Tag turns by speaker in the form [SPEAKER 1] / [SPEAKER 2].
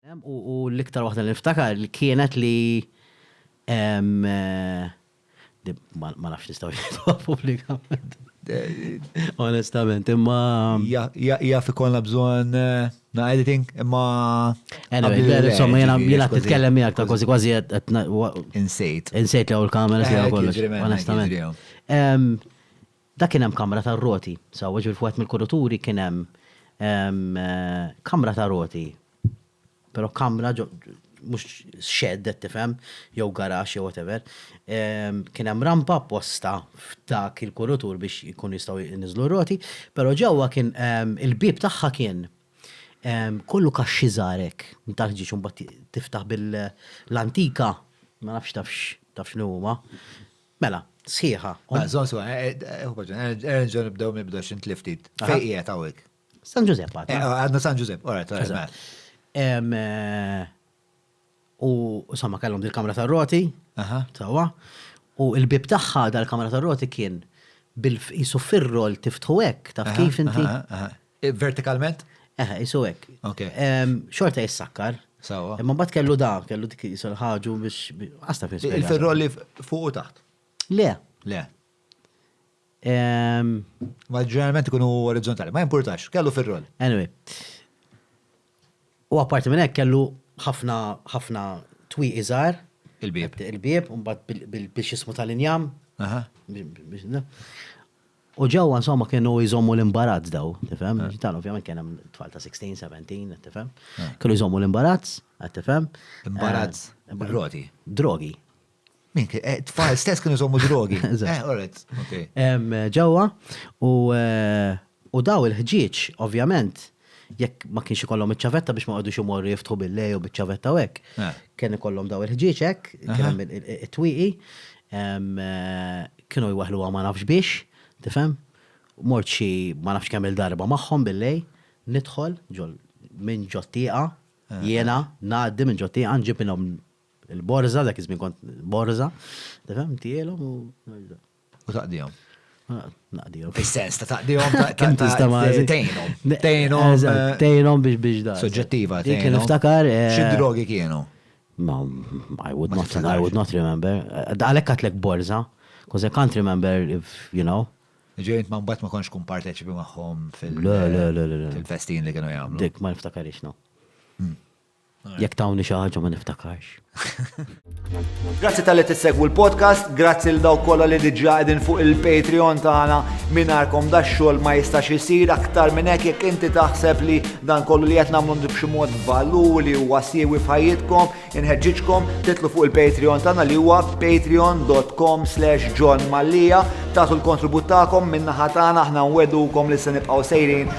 [SPEAKER 1] U l-iktar waħda li niftakar kienet li ma nafx nistgħu jgħidu pubblikament. Onestament, imma. Jaf ikollna
[SPEAKER 2] bżonn eh, na editing, imma. Insomma,
[SPEAKER 1] jena jena titkellem miegħek ta' kważi kważi Insejt.
[SPEAKER 2] Insejt li għaw
[SPEAKER 1] l-kamera si għaw kollox. Onestament. Dak kien hemm kamra tar-roti, sewwa, ġifieri f'wieħed mill-kuruturi kien hemm kamra ta' roti, però kamra ġo mhux shed qed tifhem, jew garaxx jew whatever, kien hemm rampa apposta f'dak il-kurutur biex ikunu jistgħu jniżżlu r-roti, però ġewwa kien il-bieb tagħha kien kollu kaxxi żgħar hekk ta' ħġieġ u mbagħad tiftaħ bil-antika, ma nafx tafx taf x'inhu huma. Mela, sħiħa. Mela, żomm sew, ħu paġna, erġa'
[SPEAKER 2] nerġgħu nibdew mill-bidu għax int li ftit. Fejn qiegħed hawnhekk? San Ġużepp għad.
[SPEAKER 1] Eh, għadna San Ġużepp,
[SPEAKER 2] ora, ta' mela. Eh,
[SPEAKER 1] u somma kellhom dil-kamra tar-roti, sewwa, u l-bib tagħha dal-kamra tar-roti kien bil-qisu fir-rol tiftħu hekk, taf kif inti? Vertikalment?
[SPEAKER 2] Eħe, jisu
[SPEAKER 1] hekk. Ok. Xorta jissakkar. Sawa. Imma mbagħad
[SPEAKER 2] kellu da,
[SPEAKER 1] kellu dik jisu l-ħaġu biex għasta fis. Il-ferrolli
[SPEAKER 2] fuq u taħt. Le. Le. Ma ġeneralment ikunu orizzontali, ma importax, kellu ferrolli. Anyway.
[SPEAKER 1] U apparti minn hekk kellu ħafna ħafna twi iżgħar. Il-bieb. Il-bieb, mbagħad bil-xismu tal-injam. Aha. U ġewwa insomma kienu jżommu l-imbarazz daw, tifhem? Dan ovvjament kien hemm tfal ta' 16, 17, qed tifhem? Kienu jżommu l-imbarazz, qed tifhem? Imbarazz?
[SPEAKER 2] Drogi. Drogi.
[SPEAKER 1] Min kien?
[SPEAKER 2] Eh, tfal stess kienu jżommu drogi. Eh, alright, okay. Ġewwa
[SPEAKER 1] u daw il-ħġieġ ovvjament jekk ma kienx ikollhom iċ-ċavetta biex ma qogħdux imorru jiftħu bil-lej u biċ-ċavetta u hekk, eh. kien ikollhom daw il-ħġieġ hekk, kien hemm it-twieqi, eh, kienu jwaħlu ma nafx biex, tifhem? Mort xi ma nafx kemm il-darba magħhom bil-lej, nidħol ġol minn ġottieqa, eh. jiena ngħaddi minn ġottieqa nġib minnhom il-borza, dak iż-żmien kont borza, tifhem, tielhom u U taqdihom.
[SPEAKER 2] Ah,
[SPEAKER 1] naqdihom. Fis-sens ta' taqdihom
[SPEAKER 2] ta' tejnom. Tejnom. Tejnom biex biex da.
[SPEAKER 1] Soġġettiva. Dik kien
[SPEAKER 2] iftakar.
[SPEAKER 1] Eh, Xi drogi kienu?
[SPEAKER 2] Ma,
[SPEAKER 1] I would not, I would not remember. Eh, għalek għatlek borza, because I can't remember if, you know. Ġejt ma mbatt ma
[SPEAKER 2] konx kun parteċipi maħħom fil-festin li kienu jgħamlu. Dik ma niftakarix, no.
[SPEAKER 1] Hmm. Jekk tawni xi ħaġa ma niftakarx.
[SPEAKER 2] Grazzi tal-li tissegwu l-podcast, grazzi l daw kollha li diġà qegħdin fuq il-Patreon tagħna mingħajrkom da xogħol ma jistax isir aktar minn hekk jekk inti taħseb li dan kollu li qed nagħmlu b'xi mod valur li huwa siewi f'ħajjitkom, inħeġġiġkom titlu fuq il-Patreon tagħna li huwa patreon.com slash John Mallia, tagħtu l-kontribut tagħkom minnaħa tagħna aħna nwedukom li se nibqgħu sejrin